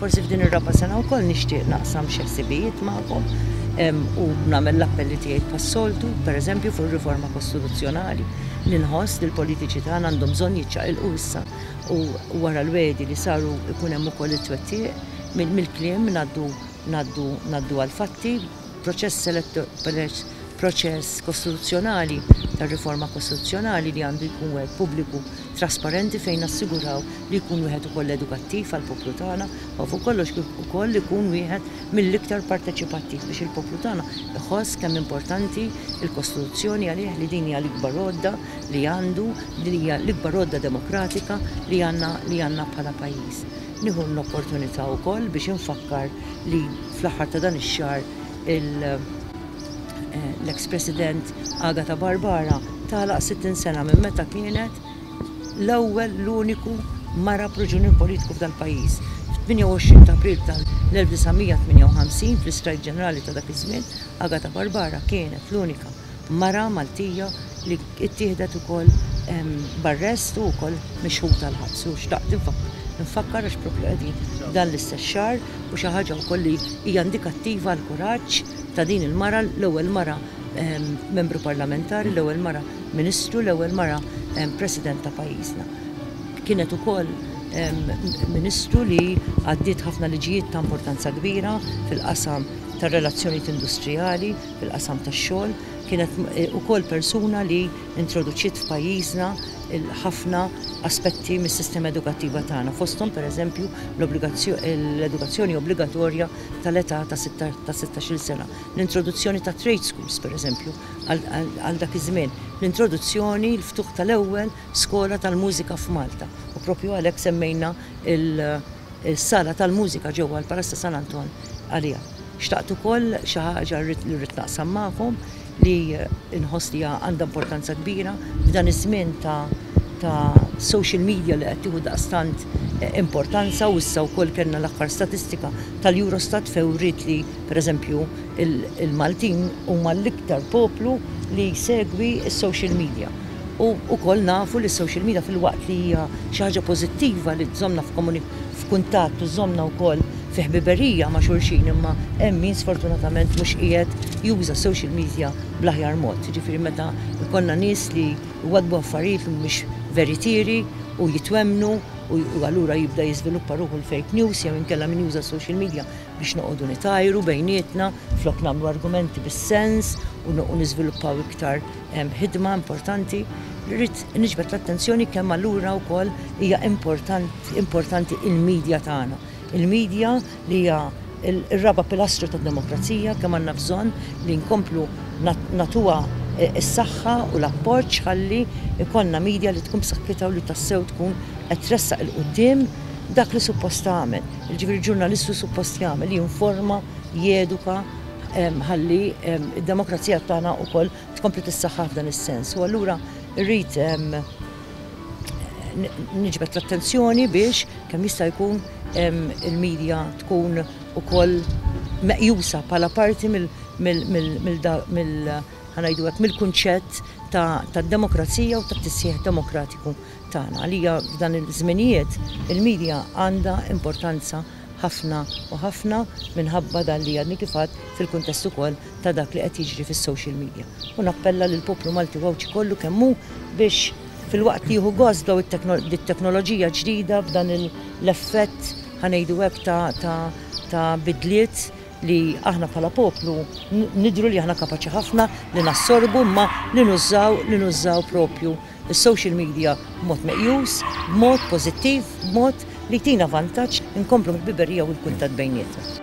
Forsi f'din ir-raba' sena wkoll nixtieq naqsam xi ħsibijiet magħkom u nagħmel l-appelli tiegħi pas-soltu, pereżempju fuq riforma kostituzzjonali, li nħoss li l-politiċi tagħna għandhom bżonn jiċċaqilqu issa u wara l-wegħdi li saru jkun hemm ukoll it-twettiq mill-kliem ngħaddu ngħaddu ngħaddu għall-fatti. proċess proċess kostituzzjonali ta' riforma kostituzzjonali li għandu jkun wieħed pubbliku trasparenti fejn nassiguraw li jkun wieħed ukoll edukattiv għall-poplu tagħna u fuq kollox kif ukoll li jkun wieħed mill-iktar parteċipattiv biex il-poplu tagħna jħoss kemm importanti l-kostituzzjoni għalih li din hija l-ikbar għodda li għandu li hija l-ikbar għodda demokratika li għandna li għandna bħala pajjiż. Nieħu l-opportunità wkoll biex infakkar li fl-aħħar ta' dan ix-xahar l-eks President Agata Barbara tagħlaq 60 sena minn meta kienet l-ewwel l-uniku mara pruġunier politiku f'dal-pajjiż. Fit-28 ta' April tal-1958, fl-istrajk ġenerali ta' dak iż-żmien, Agata Barbara kienet l-unika mara Maltija li ttieħdet ukoll b'arrest u wkoll mixħuta l-ħabs u xtaqt nfakkar għax propju qegħdin dan l-istess xahar u xi ħaġa wkoll li hija indikattiva għal kuraġġ ta' din il-mara l-ewwel mara membru parlamentari, l-ewwel mara ministru, l-ewwel mara president ta' pajjiżna. Kienet ukoll ministru li għaddiet ħafna liġijiet ta' importanza kbira fil-qasam tar-relazzjonijiet industrijali, fil-qasam tax-xogħol, kienet ukoll persuna li introduċiet f'pajjiżna ħafna aspetti mis-sistema edukattiva tagħna, fosthom pereżempju l-edukazzjoni obbligatorja tal-età ta' 16-il sena, l-introduzzjoni ta' trade schools pereżempju għal dak iż-żmien, l-introduzzjoni, l-ftuħ tal-ewwel skola tal-mużika f'Malta, u proprju għalhekk semmejna l- is-sala tal-mużika ġewwa l-Palazz ta' San Anton għaliha. Xtaqt ukoll xi ħaġa li rrid naqsam magħkom li nħoss li għandha importanza kbira f'dan iż-żmien ta' ta' social media li qed tieħu daqstant eh, importanza u issa wkoll kellna l-aħħar statistika tal-Eurostat fewrit li pereżempju il-Maltin huma l-iktar poplu li jsegwi s-social media. U wkoll nafu li s-social media filwaqt li hija xi ħaġa pożittiva li tżommna f'kuntatt u żommna wkoll fi ħbiberija ma' xulxin imma hemm min sfortunatament mhux qiegħed juża social media bl-aħjar mod. Jiġifieri meta jkollna nies li jwaddbu affarijiet li mhumiex veritieri u jitwemmnu u allura jibda jiżviluppa ruħu l-fake news jew inkella min juża social media biex noqogħdu nitajru bejnietna flok nagħmlu argumenti bis-sens u niżviluppaw iktar Hemm ħidma importanti li rrid niġbed l-attenzjoni kemm allura wkoll hija importanti il-medja tagħna. Il-medja li hija il-raba pilastru tad-demokrazija kemm għandna bżonn li nkomplu natuha e, s-saħħa u l-appoġġ ħalli ikonna medja li tkun b'saħħitha u li tassew tkun qed tressaq il-qudiem dak li suppost tagħmel. Ġifieri ġurnalistu suppost jagħmel jinforma, jeduka, ħalli d-demokrazija tagħna wkoll tkompli tissaħħaħ f'dan is-sens. U allura rrid niġbed l-attenzjoni biex kemm jista' jkun il-medja tkun ukoll meqjusa bħala parti mill ħanajdu hekk mill-kunċett tad-demokrazija u tat-tisħiħ demokratiku tagħna. Għalija f'dan iż-żminijiet il-medja għandha importanza ħafna u ħafna minħabba dan li għadni kif għedt fil-kuntest ukoll ta' dak li qed jiġri fis-social media. U nappella lill-poplu Malti u Għawdxi kollu kemm hu biex filwaqt li jieħu gost b'daw it-teknoloġija ġdida, b'dan l-effett ħa ngħidu hekk ta' bidliet li aħna bħala poplu nidhru li aħna kapaċi ħafna li nassorbu imma li nużaw li nużaw propju is-social media b'mod meqjus, b'mod pożittiv, b'mod li jtina vantaġġ inkomplu l-ħbiberija u l-kuntatt bejnietna.